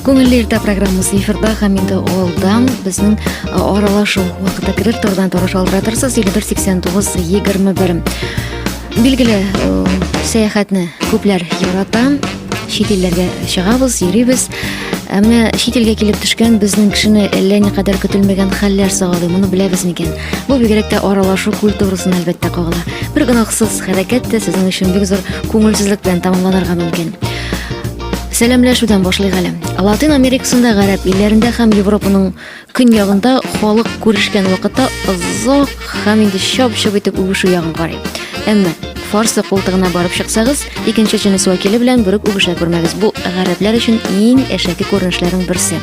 Күңелле иртә программасы эфирда һәм инде алдан безнең аралашу вакыты керер тордан туры шалтыра торсыз 5489 21. Билгеле, сәяхәтне күпләр ярата. Чит илләргә чыгабыз, йөрибез. Ә менә чит илгә килеп төшкән безнең кешене әллә никадәр көтелмәгән хәлләр сагалый, моны беләбез микән? Бу бигрәк тә аралашу культурасына әлбәттә кагыла. Бер гөнаһсыз хәрәкәт тә сезнең өчен бик зур күңелсезлек белән тәмамланырга мөмкин. Сәламләшүдән башлыйк әле. Латин Америкасында, гарәп илләрендә һәм Европаның көньягында халык күрешкән вакытта озак һәм инде чап-чап итеп үбешү ягын карый. Әмма фарсы култыгына барып чыксагыз, икенче җенес вәкиле белән бүрек үбешә күрмәгез. Бу гарәпләр өчен иң әшәке күренешләрнең берсе.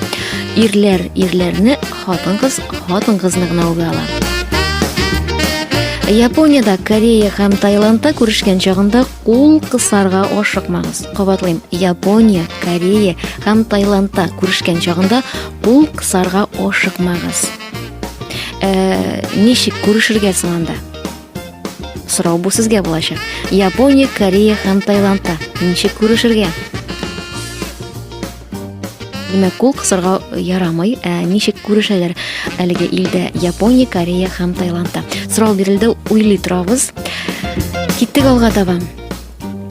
Ирләр ирләрне, хатын-кыз хатын-кызны гына үбә ала. Япониядә, Корея һәм Таиландта күрешкән чагында Кул кысарга ашыкмагыз. Кабатлыйм, Япония, Корея һәм Таиландта күрешкән чагында кул кысарга ашыкмагыз. Ә, э, ничек күрешергә соң анда? Сорау бу сезгә булачак. Япония, Корея һәм Таиландта ничек күрешергә? Димәк, кул кысырга ярамый. Ә ничек күрешәләр әлеге илдә Япония, Корея һәм Таиландта? Сорау бирелде, уйлый торабыз. Киттек алга таба.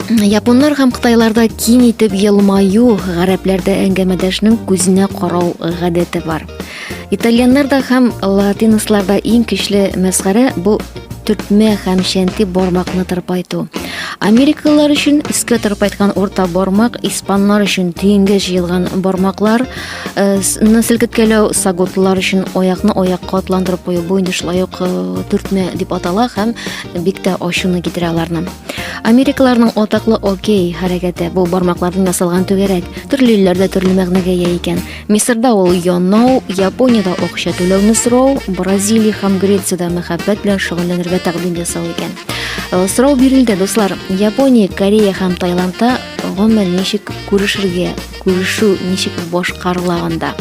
Японнар һәм Кытайларда киң итеп елмаю, гарәпләрдә әңгәмәдәшнең күзенә карау гадәте бар. Итальяннарда һәм латиносларда иң көчле мәсхәрә бу төртмә һәм шәнти бармакны тырпайту. Америкалылар өчен искә тырпайткан урта бармак, испанлар өчен тиенгә җыелган бармаклар, э, селкеткәләү сагутлар өчен аякны аякка атландырып кую бу инде шулай ук э, төртмә дип атала һәм бик тә ачуны китерә аларны. Америкаларның атаклы окей хәрәкәте бу бармаклардан ясалган түгәрәк. Төрле илләрдә төрле мәгънәгә ия икән. Мисырда ул янау, Япониядә акча түләүне сорау, Бразилия һәм Грециядә мәхәббәт белән шөгыльләнергә тәкъдим ясау икән. Э, сорау бирелде, дуслар. Япония, Корея һәм Таиландта гомумән ничек күрешергә, күрешү ничек башкарылаганда.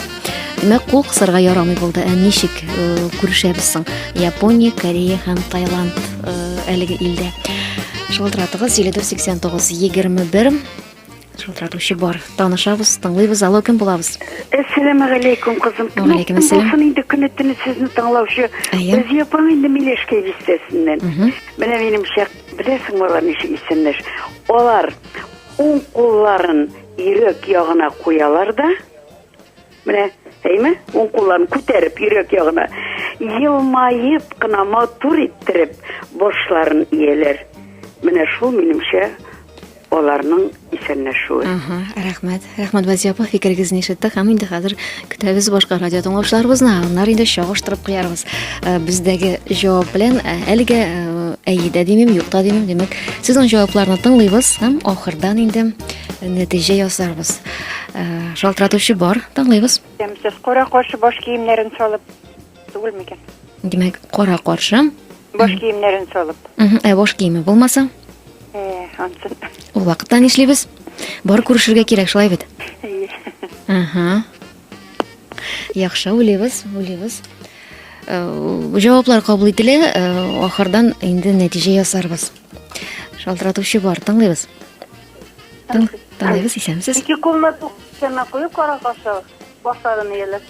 Димәк, кул кысарга ярамый булды. Ә ничек э, күрешәбез соң? Япония, Корея һәм Таиланд э, әлеге илдә. Шылтыратыгыз 7489 21 Шалтыратучы бар. Танышабыз, тыңлыйбыз. Алло, кем булабыз? Әссәламу алейкум, кызым. Алейкум әссәлам. Булсын инде көне төне сезне тыңлаучы. Рәзия апаң инде Милешкә бистәсеннән. Менә минем шәк, беләсең алар ничек исемләш. Алар уң кулларын йөрәк ягына куялар да, Менә, әйме, уң кулларын күтәреп, йөрәк ягына, елмаеп кына матур иттереп, башларын ияләр. Менә шул минемчә аларның исәнләшүе. Ага, рәхмәт. Рәхмәт Вазия апа, фикерегезне ишеттек һәм инде хәзер көтәбез башка радио тыңлаучыларыбызны. Аннары инде чагыштырып куярбыз. Э, бездәге җавап белән э, әлегә э, әйе дә димим, юк та димим. Димәк, сезнең җавапларны тыңлыйбыз һәм ахырдан инде нәтиҗә ясарбыз. Шалтыратучы бар, тыңлыйбыз. Ямсыз кара каршы баш киемнәрен салып түгел микән? Димәк, кара каршы. Баш киемнәрен салып. Ә баш киеме булмаса? Э, ансын. Ул вакытта нишлибез? Бар күрешергә кирәк, шулай бит. Ага. Яхшы, уйлыйбыз, уйлыйбыз. Э, җаваплар кабул ителә, э, ахырдан инде нәтиҗә ясарбыз. Шалтыратучы бар, тыңлыйбыз. Тын, тыңлыйбыз, исәнмесез. Ике кулны кесәмә куеп карап башлау, башларын ияләп.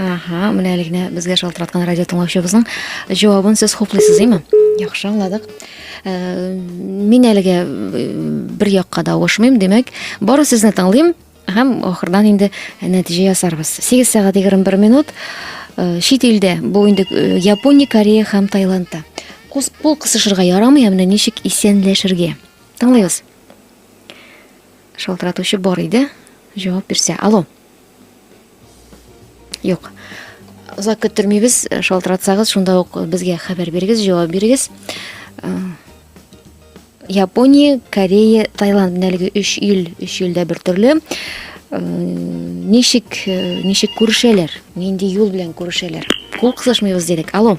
Аха, менә әле генә безгә шалтыраткан радио тыңлаучыбызның җавабын сез хуплыйсыз, име? Яхшы аңладык. Э, мин әлегә э, бер якка да авышмыйм, димәк, бары сезне тыңлыйм һәм ахырдан инде нәтиҗә ясарбыз. 8 сәгать 21 минут. Э, чит илдә, бу инде Япония, Корея һәм Таиландта. Кул кысышырга ярамый, ә менә ничек исәнләшергә? Тыңлыйбыз. Шалтыратучы бар иде. Җавап бирсә. Алло. Юк. Озак көттермибез. Шалтыратсагыз, шунда ук безгә хәбәр бирегез, җавап бирегез. Э, Япония, Корея, Таиланд менә әлеге 3 ил, 3 илдә бер төрле. Э, ничек э, ничек күрешәләр? Нинди юл белән күрешәләр? Кул кысышмыйбыз дидек. Алло.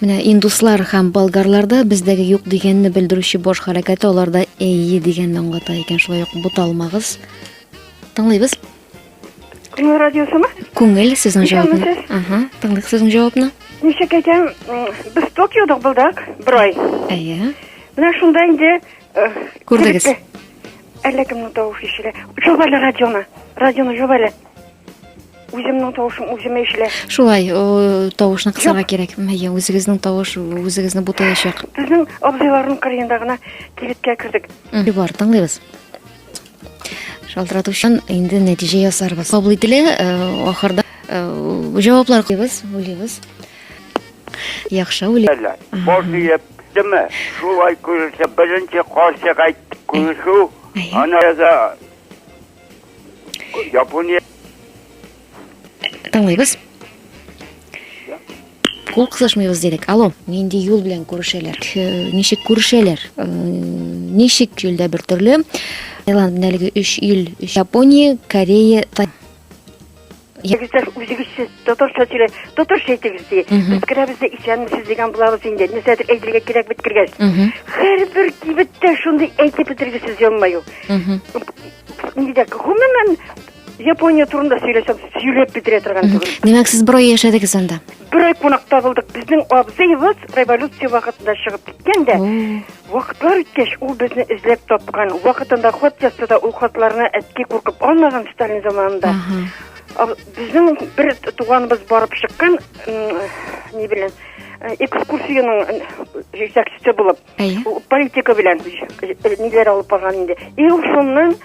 Менә индуслар һәм болгарларда бездәге юк дигәнне белдерүче баш хәрәкәте аларда әйе дигәнне аңлата икән. Шулай ук буталмагыз. Тыңлыйбыз. Күңел радиосымы? Күңел сезнең җавабны. Ага, тыңлыйк сезнең җавабны. Ничек әйтәм, без Токиода булдык бер ай. Әйе. Менә шунда инде э, күрдегез. Әллә кемнең тавышы ишелә. Җавабы радионы. Радионы җавабы. Үземнең тавышым үземә ишелә. Шулай, тавышны кысарга кирәк. Әйе, үзегезнең тавыш үзегезне бутаячак. Безнең абзыйларның кырыенда гына кибеткә кердек. Бар, тыңлыйбыз. Шалтыратучан инде нәтиҗә ясарбыз. Кабул ителә, ахырда җаваплар куйбыз, уйлыйбыз. Яхшы уйлый. Бар диеп, деме? Шулай күрсә, беренче карчык әйтте, күрешү. Ана яза Япония. Тыңлыйбыз. Кул кысышмыйбыз дидек. Алло. Нинди юл белән күрешәләр? Ничек күрешәләр? Ничек юлда бер төрле? Таиланд әлеге 3 ил, Япония, Корея, Егетләр үзегез сез татарча сөйлә, татарча әйтегез ди. Үткәрәбез дә исәнмесез дигән булабыз инде. Нәрсәдер әйтергә кирәк бит кергәч. Һәрбер кибеттә шундый әйтеп бетергесез елмаю. Нидә гомумән Япония турында сөйләсәм, сөйләп бетерә торган түгел. Димәк, сез бер ай яшәдегез анда. бер ай кунакта булдык безнең абзыебыз революция вакытында чыгып киткән дә вакытлар үткәч ул безне эзләп тапкан вакытында хат язса да ул хатларны әткәй куркып алмаган сталин заманында безнең бер туганыбыз барып чыккан не белән экскурсиянең җитәкчесе булып Әйе. Политика белән ниләр алып барган инде. И ул шуннан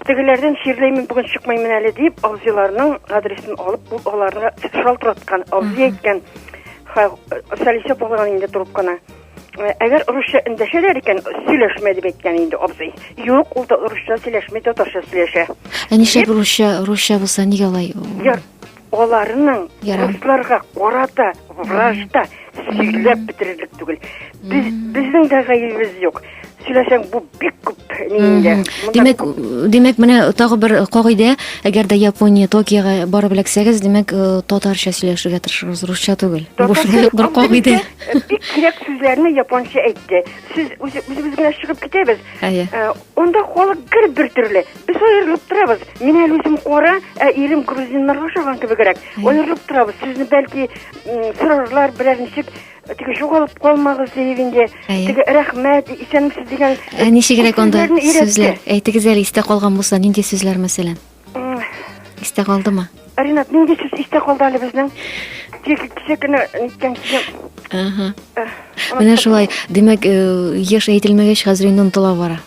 тегеләрдән чирләймен бүген чыкмыймын әле дип абзыйларның адресын алып ул аларны шалтыраткан абзый әйткән сәлисә булган инде трубканы э, әгәр русча эндәшәләр икән сөйләшмә дип әйткән инде абзый юк ул да русча сөйләшми татарча сөйләшә ә нишләп русча русча булса нигә алай аларның русларга карата вражда сөйләп бетерерлек түгел. Без безнең дә гаебебез юк. Сөйләсәң бу бик күп нинде. Димәк, димәк менә тагы бер кагыйдә, әгәр дә Япония Токиога барып эләксәгез, димәк э, татарча сөйләшергә тырышыгыз, русча түгел. Бу шулай бер кагыйдә. Э, бик кирәк сүзләрне японча әйтте. Сез үзебез генә чыгып китәбез. Әйе. Э, онда халык гел бер төрле. Без аерылып торабыз. Мин әле үзем кара, ә ирем грузиннарга ошаган кебегрәк. Аерылып торабыз. Сезне бәлки сорарлар берәр ничек теге югалып калмагыз диеп инде теге рәхмәт исәнмесез дигән ә ничегрәк анда сүзләр әйтегез әле истә калган булса нинди сүзләр мәсәлән истә калдымы ринат нинди сүз истә калды әле безнең тик кичә кенә ниткән кичә менә шулай димәк еш әйтелмәгәч хәзер инде онытыла бара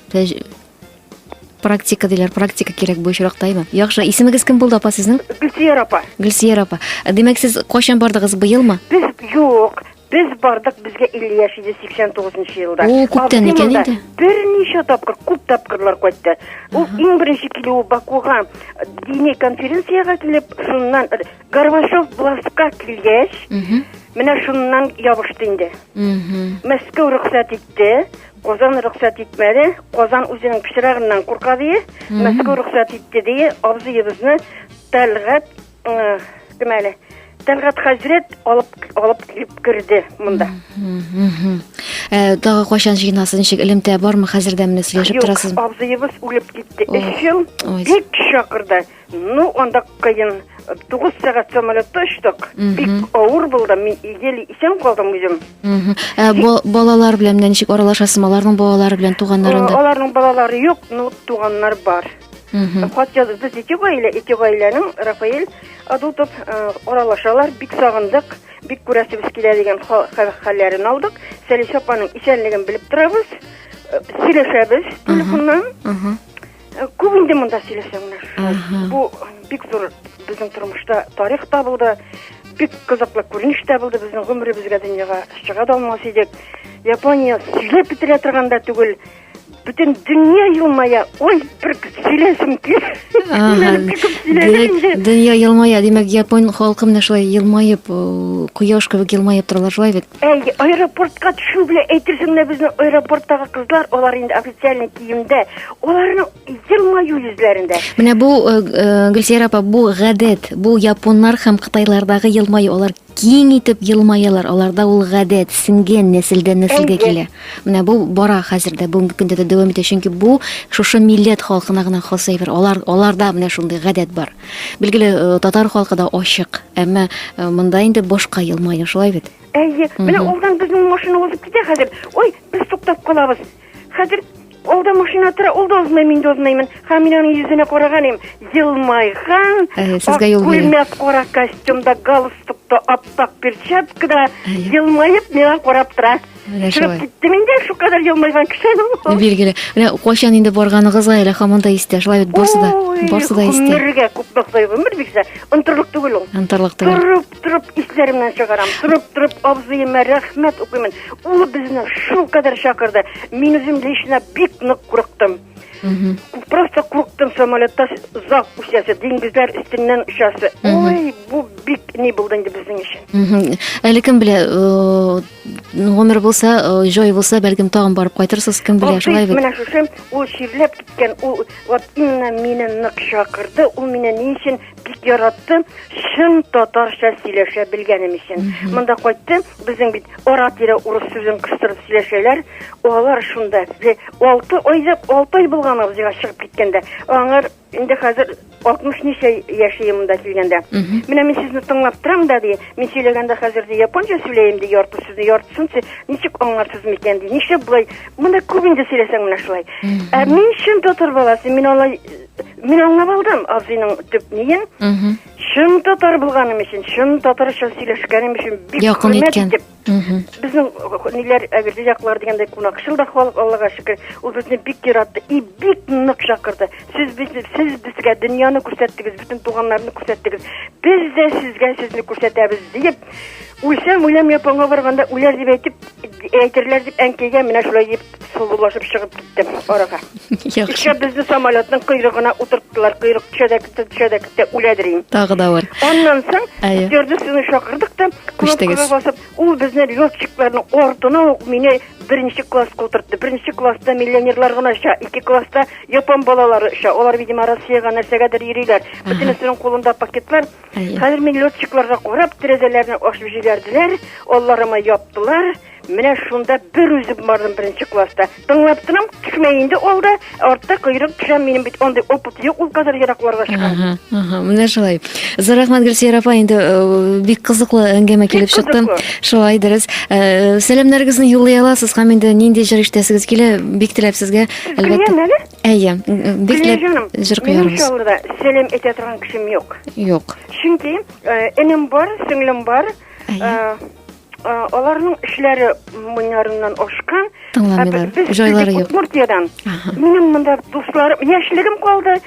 Практика диләр, практика кирәк бу очракта, әйме? Яхшы, исемегез кем булды, апа, сезнең? Гөлсияр апа. Гөлсияр апа. Димәк, сез кайчан бардыгыз, быелмы? Без юк. Без бардык, безгә 50 яшь иде 89 елда. О, күптән икән инде. Берничә тапкыр, күп тапкырлар кайтты. Ул иң беренче килүе Бакуга дини конференциягә килеп, шуннан Горбачев властька килгәч, менә шуннан ябышты инде. Мәскәү рөхсәт итте, Казан рөхсәт итмәде. Казан үзенең пычрагыннан курка дие, Мәскәү рөхсәт итте дие, абзыебызны Тәлгат э, кем әле? Тәлгат хәзрәт алып алып килеп керде монда. Э, тагы кайчан җыенасын ничек элемтә бармы хәзердә менә сөйләшеп торасызмы? Юк, абзыебыз үлеп китте. Өч ел бик чакырды. Ну, анда кыен. Тугыз сәгать самолетта очтык. Бик авыр булды. Мин еле исән калдым үзем. Ә балалар белән менә ничек аралашасың? Аларның балалары белән туганнарында? Аларның балалары юк, но туганнар бар. Хат язып без ике гаилә, ике гаиләнең Рафаэль Адутов э, аралашалар. Бик сагындык, бик күрәсебез килә дигән хәлләрен алдык. Сәлисә апаның исәнлеген белеп торабыз. Э, сөйләшәбез телефоннан. Э, күп инде монда сөйләсәң менә шулай бу бик зур безнең тормышта тарих та булды бик кызыклы күренеш тә булды безнең гомеребезгә дөньяга чыга да алмас идек япония сөйләп бетерә торган да түгел бөтен дөнья елмая ой бер сөйләсем дөнья елмая димәк япон халкы менә шулай елмаеп э, кояш кебек елмаеп торалар шулай бит Әй, аэропортка төшү белән әйтерсең лә безнең аэропорттагы кызлар, алар инде официальный киемдә, аларның елмаю йөзләрендә. Менә бу э, э, Гөлсәйрә апа, бу гадәт, бу японнар һәм кытайлардагы елмаю, алар киң итеп елмаялар, аларда ул гадәт, сиңген нәселдән нәселгә килә. Менә бу бара хәзер дә, бүгенге көндә дә дәвам итә, чөнки бу шушы милләт халкына гына хас әйбер. Алар аларда менә шундый гадәт бар. Билгеле, э, татар халкы да ачык, әмма э, монда инде башка елмаю, шулай бит? Әйе, менә алдан безнең машина узып китә хәзер. Ой, без туктап калабыз. Хәзер алда машина тора, ул да узмый, мин дә узмыймын. Һәм мин аның йөзенә караган идем. Елмайган, э, сезгә юл бирә. Күлмәк кара костюмда, галстукта, аппак перчаткада елмаеп миңа карап тора. Менә Чыгып шулай. киттем инде, шул кадәр елмайган кеше. Билгеле. Менә кайчан инде барганыгызга әле һаман да истә. Шулай бит барсы да, Ой, барсы да истә. Гомергә күп мактый гомер бирсә, онтырлык түгел ул. Антарлык түгел. Торып, торып исләремнән чыгарам. Торып, торып абзыема рәхмәт укыймын. Ул безне шул кадәр чакырды. Мин үзем лично бик нык курыктым. Просто курктым самолетта озак үсәсе, диңгезләр өстеннән очасы. Ой, бу бик ни булды инде безнең өчен. Әле кем белә, гомер булса, җай булса, бәлкем тагын барып кайтырсыз, кем белә, шулай бит. Менә шушы ул чирләп киткән, ул вот именно мине нык чакырды, ул мине ни өчен бик яраттым чын татарча сөйләшә белгәнем өчен монда кайттым безнең бит ара тирә урыс сүзен кыстырып сөйләшәләр алар шунда бе- алты айда алты ай булган абзыйга чыгып киткәндә аңар инде хәзер алтмыш ничә яши монда килгәндә менә мин сезне тыңлап торам да ди мин сөйләгәндә хәзер ди японча сөйләем ди ярты сүзне яртысын сез ничек аңларсыз микән ди нишләп болай монда күп инде сөйләсәң менә шулай ә мин чын татар баласы мин алай Мин аңлап алдым абзыйның төп ниен. Чын татар булганым өчен, чын татарча сөйләшкәнем өчен бик Якын хөрмәт иткән. итеп. Безнең э, ниләр әгерҗе яклар дигәндәй кунакчыл да халык Аллага шөкер. Ул безне бик яратты и бик нык чакырды. Сез без сез безгә дөньяны күрсәттегез, бөтен туганнарны күрсәттегез. Без дә сезгә сезне күрсәтәбез диеп үлсәм үләм японга барганда үләр дип әйтеп әйтерләр дип әнкәйгә менә шулай дип сылулашып чыгып киттем арага. Яхшы. Ишә безне самолетның койрыгына утырттылар. Койрык төшә дә китте, төшә дә китте, үлә дирим. Тагы да бар. Аннан соң Әйе. стюардессаны чакырдык та, Күчтегез. кнопкага басып, ул безне летчикларның артына ук мине беренче класска утыртты. Беренче класста миллионерлар гына оча, ике класста япон балалары оча. Алар, видимо, Россиягә нәрсәгәдер йөриләр. Бөтенесенең кулында пакетлар. Әйе. Хәзер мин летчикларга карап, тәрәзәләрне ачып җибәрделәр, алларыма яптылар. Менә шунда бер үзем бардым беренче класста. Тыңлап торам, кешемә инде ул да, артта койрык төшә, минем бит андый опыт юк, ул кадәр еракларга чыга. Ага, ага, менә шулай. Зур рәхмәт Гөлсия апа, инде э, бик кызыклы әңгәмә килеп чыкты. Шулай дөрес. Э, сәламнәрегезне юллый аласыз һәм инде нинди җыр ишетәсегез килә, бик теләп сезгә әлбәттә. Әйе, бик теләп җыр куярбыз. Минем сәлам әйтә торган кешем юк. Юк. Чөнки э, энем бар, сеңлем бар. Әйе. аларның эшләре моннарыннан ашкан тыңламыйлар җайлары юк удмуртиядан минем монда дусларым яшьлегем калды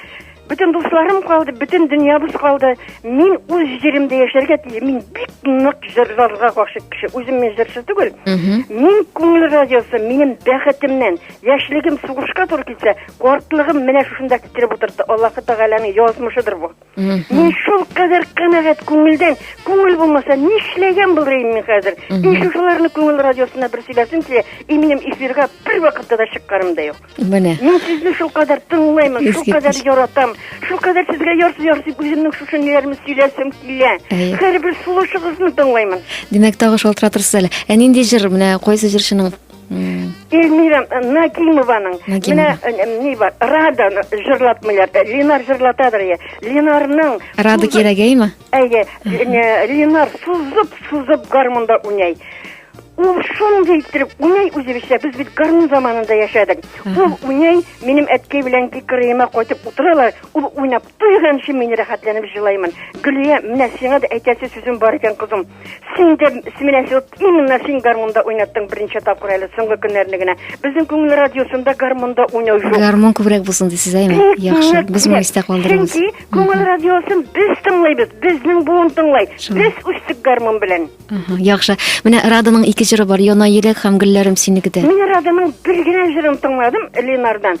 бөтен дусларым калды бөтен дөньябыз калды мин үз җиремдә яшәргә тиеш мин бик нык җырларга гашыйк кеше үзем мин җырчы түгел мин күңел радиосы минем бәхетемнән яшьлегем сугышка туры килсә картлыгым менә шушында китереп утыртты аллаһы тәгаләнең язмышыдыр бу Мин шул кадәр канәгать күңелдән, күңел булмаса, нишләгән булырым мин хәзер? И шушыларны күңел радиосына бер сөйләсем килә, и минем эфирга бер вакытта да чыкканым да юк. Менә. Мин сезне шул кадәр тыңлаймын, шул кадәр яратам, шул кадәр сезгә ярсый-ярсый үземнең шушы ниләрне сөйләсем килә. Һәрбер сулышыгызны тыңлаймын. Димәк, тагы шалтыратырсыз әле. Ә нинди җыр, менә кайсы җырчының Эльмира Нагимованың менә ни бар, Рада җырлап миләр, Ленар җырладыр я. Ленарның Рада кирәгәйме? Әйе, Ленар сузып, сузып гармунда уйный. Ул шундый иттереп уйный үзебезчә, без бит гармун заманында яшәдек. Ул уйный, минем әткәй белән кикриемә кайтып утыралар, ул уйнап туйганчы мин рәхәтләнеп җылаймын. Гөлия, менә сиңа да әйтәсе сүзем бар икән, кызым. Син дә менә син именно син гармунда уйнаттың беренче тапкыр әле соңгы көннәрне генә. Безнең күңел радиосында гармунда уйнау юк. Гармун күбрәк булсын дисез әйме? Яхшы, без моны истә калдырабыз. Чөнки күңел радиосын без тыңлыйбыз, безнең буын тыңлый. Без үстек гармун белән. Яхшы. Менә Раданың ике җыры бар, Яна еләк һәм гөлләрем синекедә. Мин Раданың бер генә җырын тыңладым Ленардан.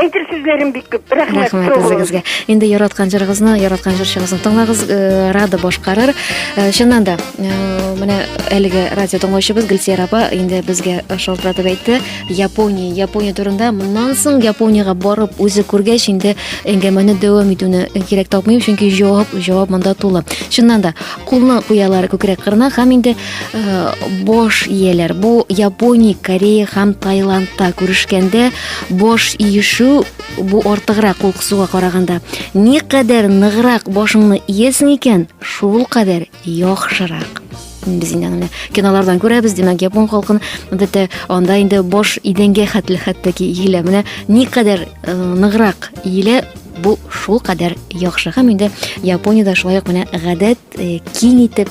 Әйтер сүзләрем бик күп. Рәхмәт. Рәхмәт үзегезгә. Инде яраткан җырыгызны, яраткан җырчыгызны тыңлагыз, э, Рада башкарыр. Э, чыннан да, э, менә әлеге радио тыңлаучыбыз Гөлсия апа инде безгә шалтыратып әйтте, Япония, Япония турында. Моннан соң Япониягә барып үзе күргәч инде әңгәмәне дәвам итүне кирәк тапмыйм, чөнки җавап, җавап монда тулы. Чыннан да, кулны куялар күкрәк кырына һәм инде бош ияләр. Бу Япония, Корея һәм Таиландта күрешкәндә Баш иешү бу артыграк кулкысуга караганда. Никадәр ныграк башыңны иясең икән, шул кадәр яхшырак. Без инде аны кинолардан күрәбез, димәк, япон халкын бетә, анда инде баш идәнгә хәтле хәтта ки иелә. Менә никадәр э, ныграк иелә, бу шул кадәр яхшы. Һәм инде Япониядә шулай ук менә гадәт э, киң итеп